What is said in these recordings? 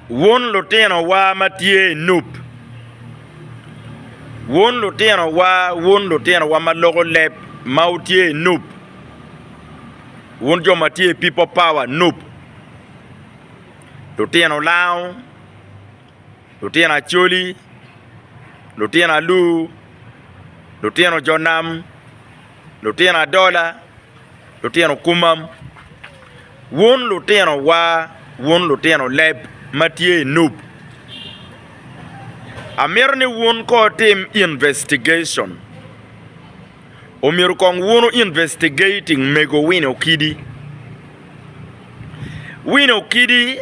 Wun lutinowa ma tye i Nup, wun lutinowa, wun lutinowa ma loko leb ma wutye i Nup, wun jo ma tye i People Power Nup, lutino Lango, lutino Acholi, lutino Alur, lutino jo nam. lutino adola, lutino kumam, wun lutino wa, wun lutino leb ma tye i Nup, amito ni wun ko wutim investigation, omyero kong wunu investigating mego Winnie Okidi. Wino kidi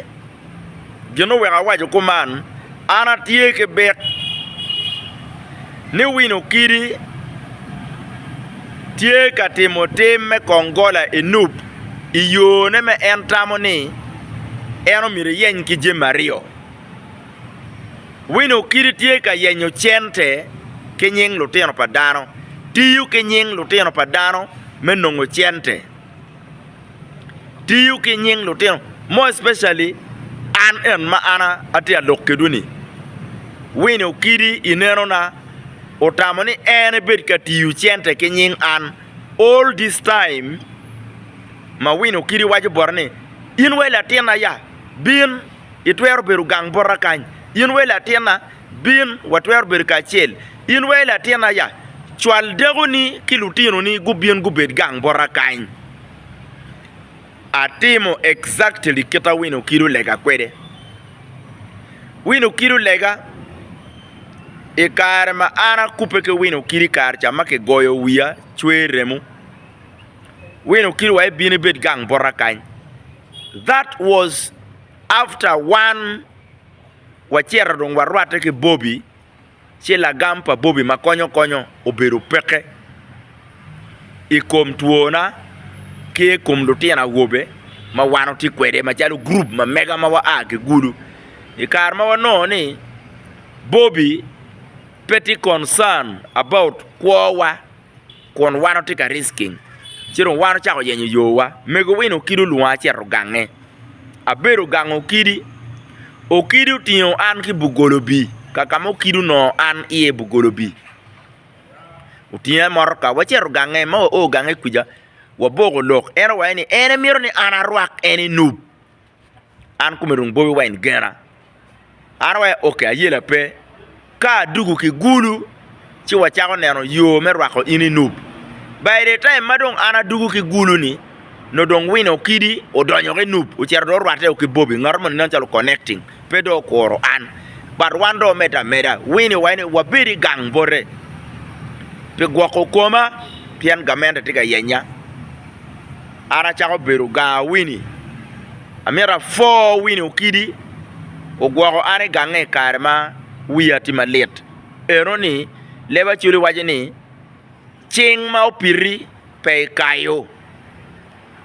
gin oweko awaco kuman, an atye ki bit ni wino kidi tye ka timo tim me kongola i Nup i yone ma en tamo ni en omyero eyeny ki jami aryo. Wino kidi tye ka yenyo cente ki nying lutino pa dano, tiyo ki nying lutino pa dano me nongo cente. tiyo ki nying lutino more especially an en ma an atye ka lok kwedwu ni Winnie Okidi i neno na otamo ni en ebed ka tiyo cente ki nying an all this time ma Winnie Okidi waco bote ni in wai latinna ya bin itwero bedo gang bota kany in wai latinna Bin, watwero bedo kacel. In wa i latin aya, cwal dakoni ki lutinoni gubin gubed gang bota kany. Atimo exactly kita wino kidi olega kwede. Wino kidi olega i kare ma an akubbe ki wino kidi i kare ca ma kigoyo wiya cwer remo, wino kidi wa ibin ibed gang bota kany. That was after one. wacito dong warwatte ki Bobi, ci lagam pa Bobi ma konyo konyo obedo peke i kom twona ki i kom lutino awobe ma wan watye kwede macalo gurup ma mega ma waa ki Gulu. I kare ma wanongo ni Bobi pe tye concern about kwowa. kun wan watye ka risking ci dong wan ocako yenyo yowa. Mego wino okidi olwonga acito gange, abedo gang okidi, okidi otingo an ki bugolobi kaka ma okidi onongo an iye bugolobi otinga motoka wacito gange ma wao gange kwica waboko lok en owaco ni en mito ni an arwak en enub. an kome dong bobi wine gena an awaco ok ayela pe ka adugu ki gulu ci wacako neno yo me rwako in i nup by the time ma dong an adugu ki gulu ni nongo dong wino kidi odonyo ki nup ocito dong orwate o ki bobi ngato moni nen calo connecting pe dong okuro an but wan dong wamedde ameda wini waci ni wabed i gang bote pi gwoko koma pien gamente tye ka yenya an acako bedo ganga Winnie. Amyero apwo Winnie Okidi ogwoko an i gange i kare ma wiya tye malit eno ni leb Acholi waco ni cing ma opiti pe ikayo.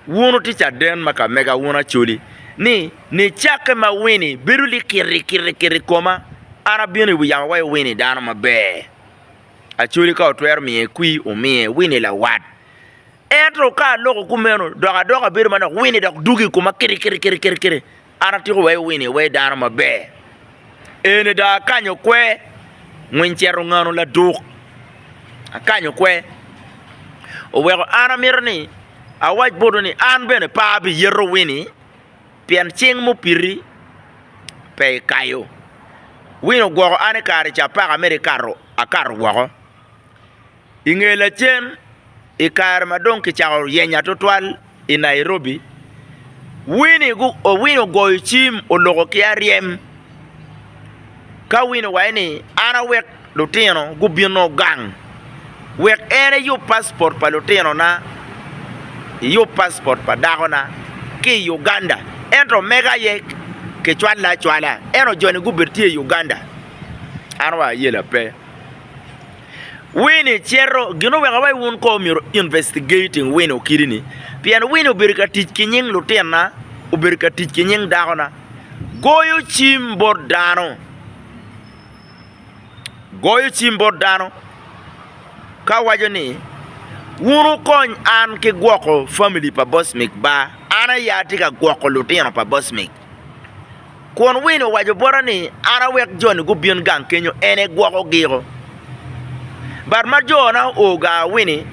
Wun wutye caden ma ka mega wun Acholi ni nicakke ma Winnie bedo likiri kiri kiri i koma an abino i wi yamo awaco Winnie dano maber Acholi ka otwero miye kwir omiye Winnie lawat. Ento ka aloko kumeno, dok adoko abedo manok, wini dok dugo i koma kirikirikiri. An atyeko weko wini iwe dano maber. Eni dong akanyo kwe, ngwiny cito ongano laduk. Akanyo kwe. Oweko an amito ni awac botwu ni an bene pe abiyeto wini pien cing mupiti pe ikayo. Wini ogwoko an i kare ca apaka mere ikato, akato woko. I nge lacen, i kare ma dong kicako yenya tutwal i Nairobi, Winnie ogoyo cim oloko ki aryem ka Winnie owaco ni, An awek lutino gubino gang wek en eyub passport pa lutinona, eyub passport pa dakona ki i Uganda. Ento omege aye kicwale acwala, ento joni gubedo tye i Uganda. An wa ayela pe. Winnie cito, Gin oweko wa i wun ko myero investigating Winnie okidi ni pien Winnie obedo ka tic ki nying lutinna, obedo ka tic ki nying dakona. Goyo cim bot dano, goyo cim bot dano ka waco ni wun wukony an ki gwoko family pa Bosmic ba, an aye atye ka gwoko lutino pa Bosmic. Kun Win owaco bota ni, 'An awek joni gubin gang kenyo, en egwokogio. But ma jona oo gaa wini,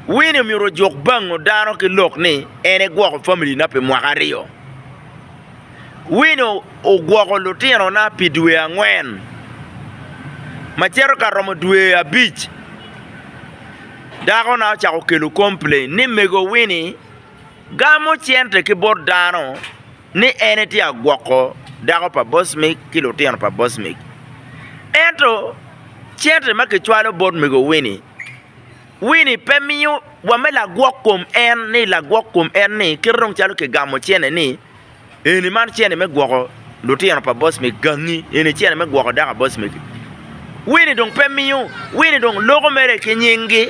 Win omyero ojuk bango dano ki lok ni en egwoko familina pi mwaka aryo. Win ogwoko lutinona pi dwe angwen ma cito ka romo dwe abic. Dakona ocako kelo complain ni mego Wini, Gamo cente ki bot dano ni en etye ka gwoko dako pa bocmi ki lutino pa bocmi. Ento cente ma kicwalo bot mego Wini, Wini pe miyo wa me lagwok kom en ni kite dong calo kigamo cene ni. Eni man cene me gwoko lutino pa bocme gangi eni cene me gwoko dako bocme gi wini dong pe miyo wini dong loko mere ki nying gi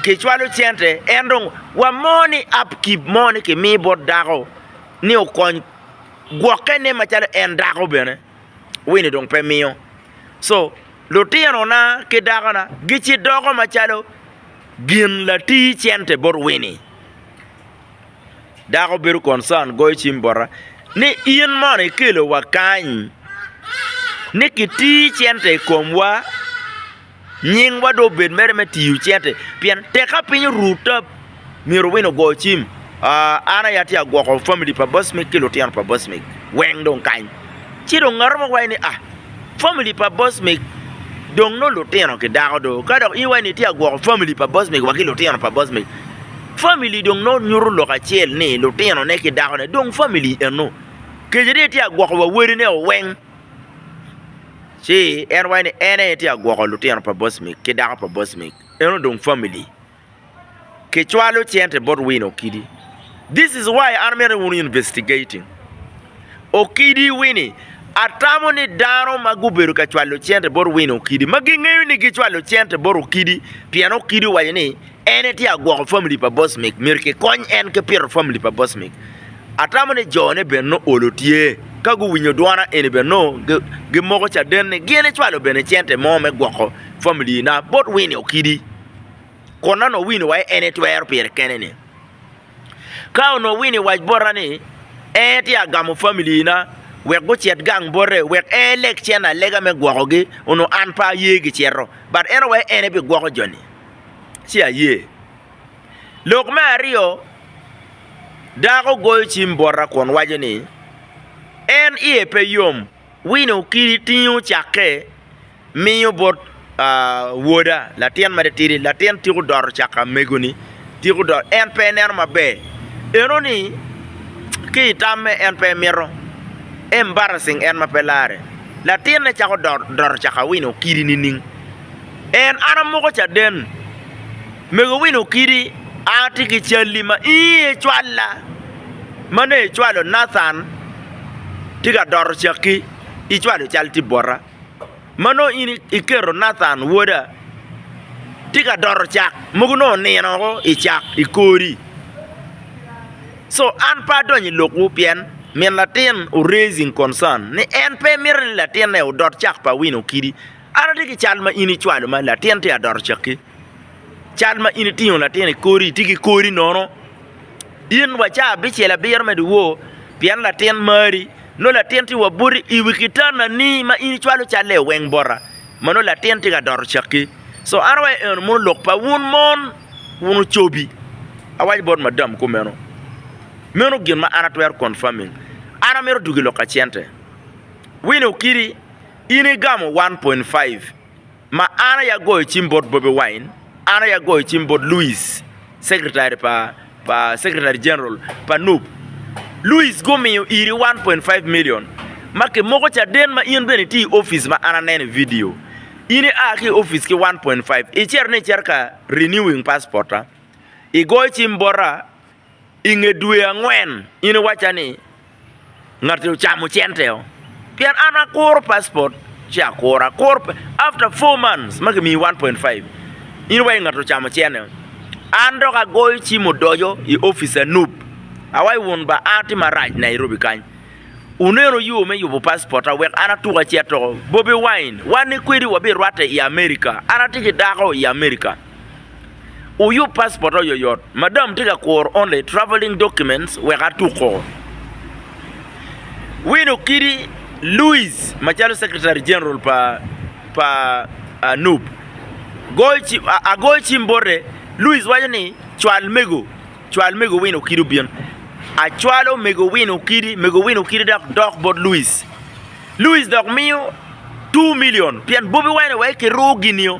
ki cwalo cente en dong wa mo ni up keep mo ni ki mi bot dako ni okony gwoke ne macalo en dako bene wini dong pe miyo so lutino na ki dako na gici doko macalo gin latii cente bot wini Dako bedo concern goyo cim bota ni in mono ikelo wa kany ni ki tir cente i komwa nyingwa dong obed mere me tiyo cente pien tek ka piny oru tap myero wino ogo cim aah an aye atye ka gwoko family pa boss meg ki lutino pa boss meg weng dong kany ci dong ngato mo waco ni aah. Famili pa Bosmic dong nongo lutino ki dako do. Ka dok iwa ni itye ka gwoko famili pa Bosmic wa ki lutino pa Bosmic, famili dong nongo nyuto lok acel ni lutinone ki dakone dong famili eno. Kec ni itye ka gwoko wa wadine o weng, ci en waci ni en aye tye ka gwoko lutino pa Bosmic ki dako pa Bosmic, eno dong famili. kicwalo cente bot wino okidi this is why an amito ni wun wu investigating okidi wini atamo ni dano ma gubedo ka cwalo cente bot wino okidi ma gingeyo ni gicwalo cente bot okidi pien okidi owaco ni en etye ka gwoko family pa boss mic myero kikony en ki pito family pa boss mic atamo ni jo ne bene nongo olo tye ka guwinyo dwona eni bene nongo gimoko caden ni gin icwalo bene cente mo me gwoko family na bot wini okidi kun nongo onongo wino wai en etwero pire kene ni ka onongo wino i wac bota ni en etye ka gamo family na wek gucit gang bote wek en eleg cen alega me gwoko gi onongo an pe aye gi cito but en owaco en aye bi gwoko jo ni ci aye lok me aryo dako goyo cim bota kun waco ni en iye pe yom wino kidi tingo cake miyo bot woda, latin mere tidi, latin tiko doto caka amegoni, tiko doto, en pe ineno maber, enoni ki i tamme en pe imito, embarrassing en ma pe larre, latinne cako doto caka Wine Okidi nining? En an amuko caden, mego Wine Okidi an atye ki calli ma in aye icwalla, ma nongo icwalo Nathan tye ka doto cakki, icwalo cal tye bota. ma nongo in iketo Nathan woda tye ka doto cak mogo nongo onino woko i cak i kori so an pe adonyo i lokwu pien min latin o raising concern ni en pe mito ni latinne odot cak pa wino kidi, an atye ki cal ma in icwalo ma latin tye ka doto cakki. cal ma in itingo latin i kodi, itye ki kodi nono, in wa caa abicel abiro me dyewor pien latin mari, nongo latin tye wa buto i wi kitanani ma in icwalo calle i weng bota ma nongo latin tye ka doto cakki. Co an awaco ni eno mono lok pa wun mon, wun ocobi, awaco bot madam kumeno. Meno gin ma an atwero confirming. An amito dwogo i lok ka cente. Winnie Okidi, in igamo one point five. Ma an aye agoyo cim bot Bobi Wine, an aye agoyo cim bot Louis, Secretary pa pa Secretary General pa nup. Louis gumiyo iri 1.5 million ma kimoko caden ma in bene itye i opic ma an aneno i vidio. In ia ki i opic ki 1.5, icito ni icito ka renewing passport-ta, igoyo cim bota. i nge dwe angwen in iwacca ni ngati ocamo cente o pien an akuro paspot ci akuro akuro after four months ma kimiyi one point five in iwaci ngati ocamo cene o an dok agoyo cim odoco i opic anup awaci wun ba a tye marac Nairobi kany wuneno yo me yubo paspot ta wek an atuk aceto bobi wine wan ni kwedi wabirwate i America an atye ki dako i America. Wuyub paspot oyoyot. Madam tye ka kuro only travelling documents wek atuko. Win Okidi Louis macalo Secretary General pa nup agoyo cim bote, Louis waco ni cwal mego, cwal mego Win Okidi obin. Acwalo mego Win Okidi, mego Win Okidi dok dok bot Louis. Louis dok miyo two million pien bobi wine aye kiruwo gin-nio.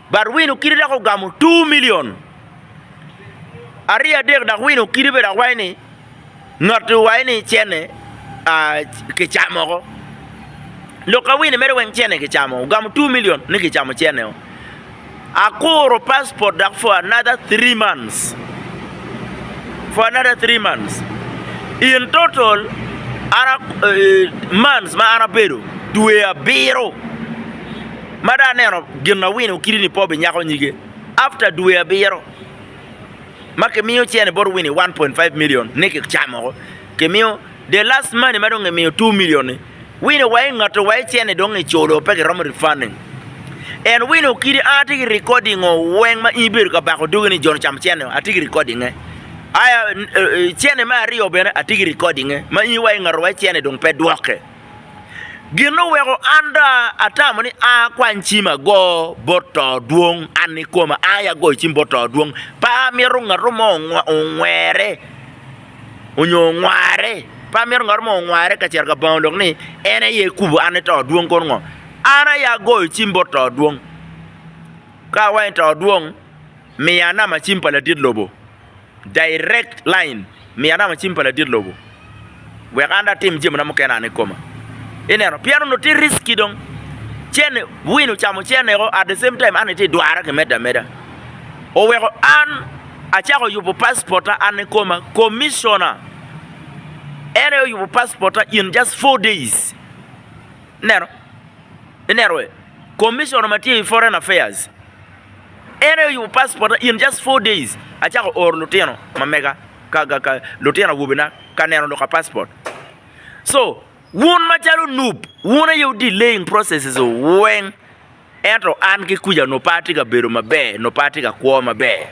But wino kidi dok ogamo two million ariyo adek dok wino kidi bene dok waci ni ngat-tu waci ni cene kicamo oko. Lok ka wino mere weng cene kicamo, ogamo two million ni kicamo cene o. Akuro passport dok for another three months. For another three months. In total, an months ma an abedo dwe abiro. Ma dong aneno gin awino kiti ni Pobi nyako nyige after dwe abiro ma ki miyo cene bot Winnie one point five million ni ki camo ko ki miyo the last money ma dong ki miyo two million ni Winnie wa i ngato wa i cene dong i culo pe ki romo refunding and Winnie okidi an atye ki recording o weng ma in ibedo ka bako dogi ni John ocamo cene o atye ki recording e aya cene me aryo bene atye ki recording e ma in wa i ngato wa i cene dong pe dwoke. Gin oweko an do atamo ni a akwany cim ago bot to dwong an nikoma, ai agoyo cim bot to dwong. Pe amito ngato mo ongwere onyo ongware, pe amito ngato mo ongware ka cito ka bango lok ni en aye ekubo an ni to dwong kono ngo. An aye agoyo cim bot to dwong, ka awaco ni to dwong miya namba cim pa ladit lobo. Direct line, Miya namba cim pa ladit lobo wek an dong atim jamina mukene an ikoma. Ineno, pien onongo tye risky dong. Cene, win ocamo ceneko at the same time an itye idwara ki medde ameda. Oweko an acako yubo passporta an ikoma. Commissioner en aye oyubo passporta in just four days. Ineno? Ineno wee? Commissioner ma tye i foreign affairs. En aye oyubo passport in just four days acako oro lutino ma mega ka lutino awobe na ka neno lok ka passport so wun macalo nup wun aye wu delaying processes weng ento an ki kuca nongo pe atye ka bedo maber nongo pe atye ka kwo maber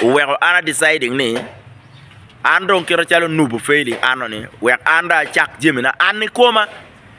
oweko an a deciding ni an dong kit macalo nup ofailing an noni wek an dong acak jami na an ikoma.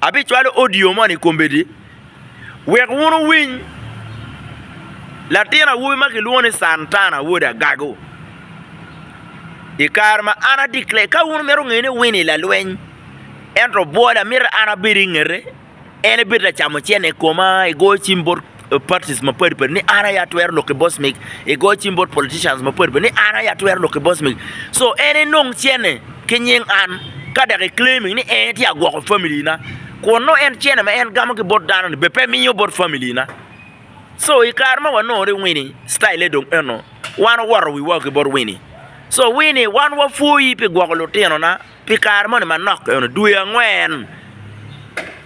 Abicwalo audio moni i kombeddi wek wun wuwiny. Latin awobi ma kilwongo ni Santana wod Agago. I kare ma an adikle, ka wun mito ngeye ni Winnie lalweny, ento obwola, mito an abed i ngete, en ebed lacamo cene i koma, egoyo cim bot. parties mapadi padi ni an aye atwero lok ki boss mig i goyo cim bot politicians mapadi padi ni an aye atwero lok ki boss mig so en enong cene ki nying an ka dok i claiming ni en tye agwoko family na kun nongo en cene ma en gamo ki bot dano ni bene pe miyo bot family na so i kare ma wanongo ni wini style dong eno wan owoto wiwa ki bot wini so wini wan wa pwoyi pi gwoko lutino na pi kare moni manok eno dwe angwen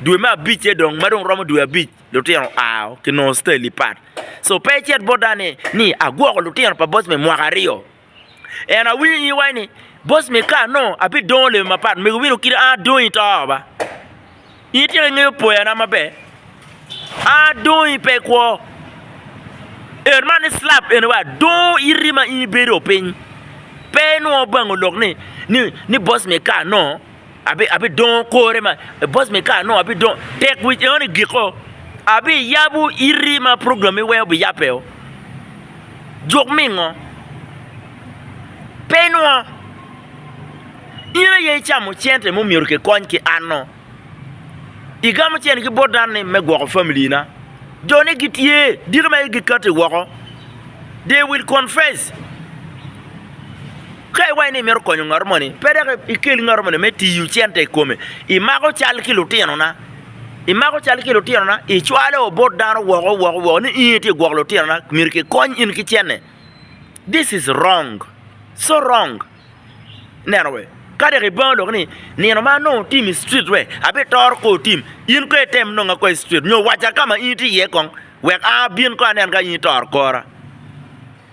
dwe me abic ce dong ma dong romo dwe abic lutino ao ki nongo style pat so pe icit bot dano ni agwoko lutino pa boss me mwaka aryo ento awinyo i iwa ni boss me kar nongo abidongo lewi mapat mego wino kit an adongi to ba in ityeko ingeyo poya na maber an adongi pe ikwo en man ni slap eni wa adongo iti ma in ibedo piny pe inongo bang olok ni boss me kar nongo abidongo kore ma bos me kar nongo abidongo tek wic eno ni giko abiyabo iti ma program mi weo biyabeo juk mingo pe inwo in aye icamo cente mo myero kikony ki anno igamo cente ki bot dano ni me gwoko family na jo ne gitye dito ma aye gikati woko they will confess Ka iwaco ni imito konyo ngat moni, pe dok ikel ngat moni me tiyo cente i kome. Imako cal ki lutinona, imako cal ki lutinona, icwalo bot dano woko woko woko ni in aye itye ka gwoko lutinona, myero kikony in ki cente. This is wrong, so wrong. Ineno wee? Ka dok ibango lok ni nino ma anongo otim i street wee abitoro kong otim, in kong item nonga kong i street nyo wacca ka ma in itye iye kong wek an abin kong anen ka in itoro kora.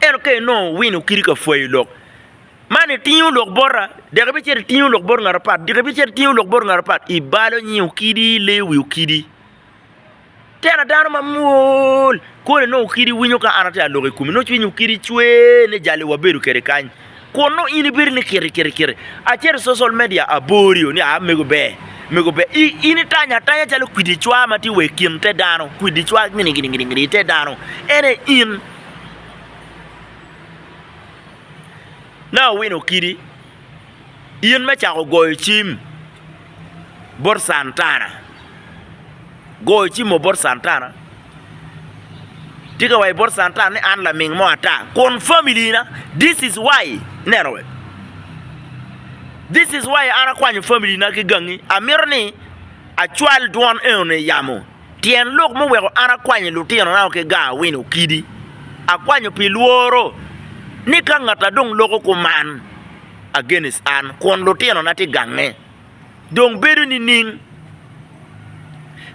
Ento ka inongo wino kadi ka pwoyo lok man itingo lok bota dok ibicito itingo lok bot ngat apat dok ibicito itingo lok bot ngat apat ibalo nying okidi ileyo wi okidi tena dano mamwol kodi nongo okidi winyo ka an atye ka lok i kome nongo cwiny okidi cwer ni jali wabedo kwede kany. Kun nongo in ibedo ni kiti kiti kiti acel i social media aborio ni aa mego ber mego ber i in itanya atanya calo kwidi cwa ma tye wa i kin te dano kwidi cwa gini gini gini gini te dano en aye in na owino kidi in me cako goyo cim bot Cantana. Goyo cimo bot Santana. Tika wa i bot Santana ni an laming mo ata kun family na this is why neno wek this is why an akwanyo family na ki gangi amito ni acwal dwon eno ni yamo tyen lok mo weko an akwanyo lutino na ki ga awin okidi akwanyo pi lworo ni ka ngata dong loko kuman against an kun lutino na ti gange. dong bedo nining?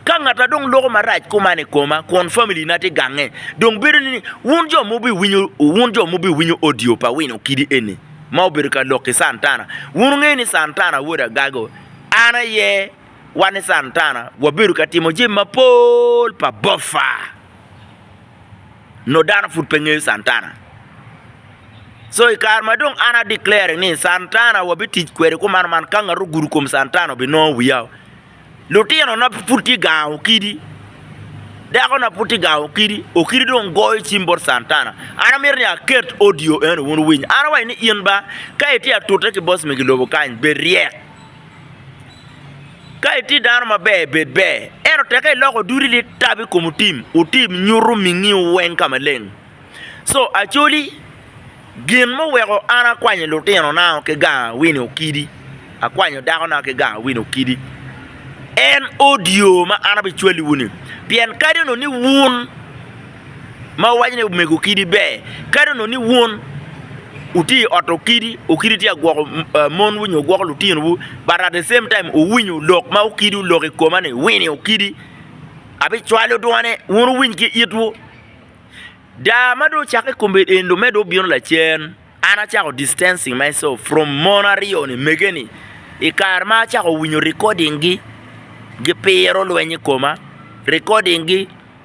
Ka ngata dong loko marac kuman i koma kun familina tye gange, dong bedo nining? Wun jo ma wubiwinyo, wun jo ma wubiwinyo odio pa wino kidi eni ma obedo ka lok ki Santana, wun wungeyo ni Santana wod agago. An aye wan ni Santana wabedo ka timo jami mapol pa bofa. nongo dano pud pe ngeyo Santana. So i kare ma dong an a declare ni Santana wabitic kwede kuman man ka ngat ogudo kom Santana obinongo wiya. Lutinona pud tye gango okidi, dakona pud tye gango okidi, okidi dong goyo cim bot Santana. An amito ni aket audio eno wun wuwiny. An awaco ni in ba ka itye atute ki bocmegi lobo kany bed ryek. Ka itye dano maber, bed ber. Ento teke iloko dudi ni tab i kom otim, otim nyuto mingiwu weng ka maleng. Co acoli, gin muweko an akwanyo lutinona ki ganga wini okidi, akwanyo dakona ki ganga wini okidi, en odio ma an abicwaliwu-ni. Pien kadi onongo ni wun ma wuwaco ni omego kidi ber. Kadi onongo ni wun wutye i ot okidi, okidi tye ka gwoko monwu nyo gwoko lutinowu but at the same time wuwinyo lok ma okidi oloko i koma ni wini okidi abicwalo dwane wun wuwiny ki itwu. Daa ma dong ocakke kome eni dong medde obino lacen an acako distancing myself from mon aryo-ni omege-ni i kare ma acako winyo recording-gi gipiro lweny i koma recording-gi.